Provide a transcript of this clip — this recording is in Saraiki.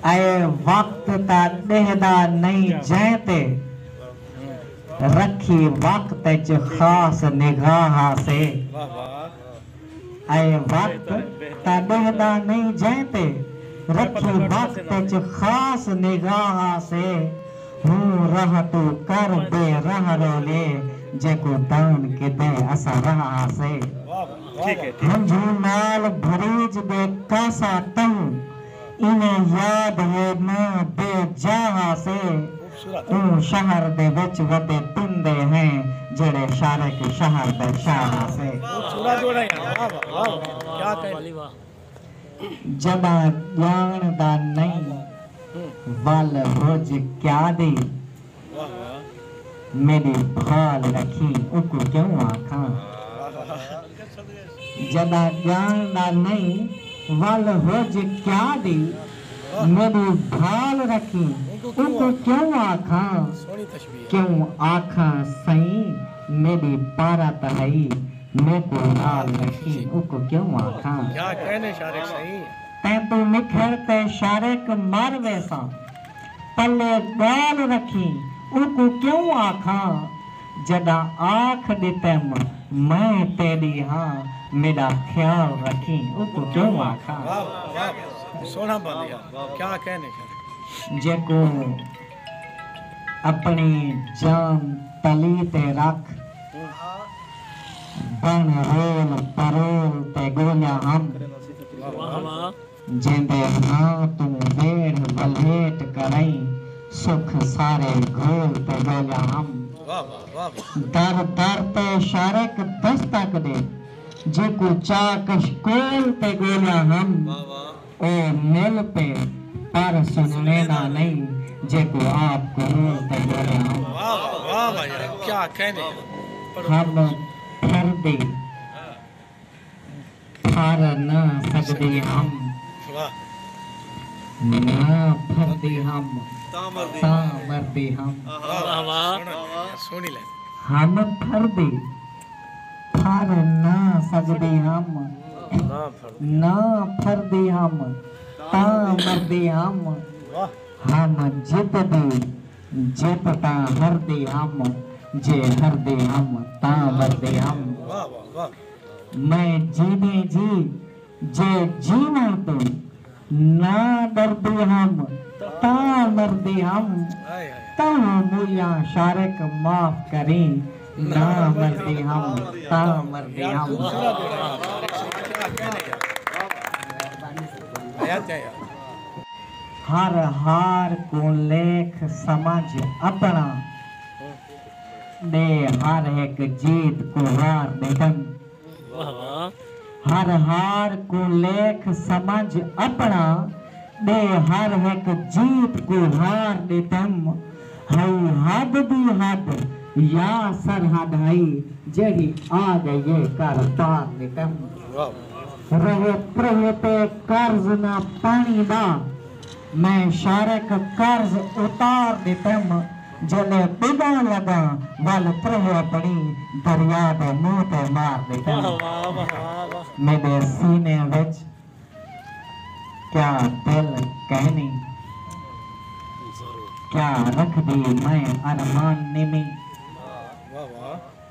اے وقت تاں ݙیہدا نئیں جئیں تے رکھی وقت اچ خاص نگاہ ہاسے اے وقت تاں ݙیہدا نئیں جئیں تے رکھی وقت اچ خاص نگاہ ہاسے ہوں راہ توں کر بے راہ رولے جیکوں داون کیتے اساں راہ ہاسے ہنجھوں نال بھریج دے کاسا تہوں انہیں یاد یے ناں بے جا ہاسے اوں شہر دے وچ وڈے تندے ہیں جیڑھے شارک شہر دے شاہ ہاسے۔ جڈاں ڄاݨدا نئیں ول رج کیا دی میݙی بھال رکھی اونکوں کیوں آکھاں۔ جݙاں ڄاݨدا نئیں ول ہج کیا دی۔ میݙی بھال رکھی اونکوں کیوں آکھاں۔ کیوں آکھاں سئیں میݙی پارت ہئی۔ میکوں نال رکھی اونکوں کیوں آکھاں۔ تیکوں نکھڑ تے شارق مر ویساں۔ پلے ڳالھ رکھیں اوکوں کیوں آکھاں جݙاں آکھ ݙتم میں تیݙی ہاں میݙا خیال رکھیں اوکوں کیوں آکھاں۔ جیکوں اپݨی جان تلی تے رکھ بݨ رول پرول تے ڳولیاں ہم۔ جیندے ہاں توں ویڑھ ولیٹ کرئیں سکھ سارے گھول تے ڳولیا ہم در در تے شارک دستک ݙے جیکوں چا کشکول تے ڳولیا ہم او مل پے پر سنݨے دا نئیں جیکوں آپ کرول تے ڳولیا ہم ہم پھردی پھر نہ سگدے ہم نہ پھردے ہم تاں مردے ہم ہم پھردے پھر نہ سگدے ہم نہ پھردے ہم تاں مردے ہم ہم جتدے جے پتاں ہر دے ہم جے ہر دے ہم تاں مردے ہم میں جیندے جی جے جیوݨ توں نہ ݙردے ہم تاں مردے ہم تہوں موئیاں شارق معاف کریں نہ مردے ہم تاں مردے ہم۔ ہر ہار کوں لیکھ سمجھ اپݨا ݙے ہر ہک جیت کوں ہار ݙیندن ہر ہار کوں لیکھ سمجھ اپݨا ݙے ہر ہک جیت کوں ہار ݙیندن ہئی حد دی حد یا سرحد ہئی جیڑھی آ ڳئی اے کر پار ݙیندن۔ رہے تریہہ تے قرض نہ پاݨی دا میں شارق قرض اتار ݙتم جیلے ݙگاں لڳاں ول تریہہ پݨی دریا دے منہ تے مار ݙتم میݙے سینے وچ کیا دل کینی کیا رکھدی میں ارمان نمی۔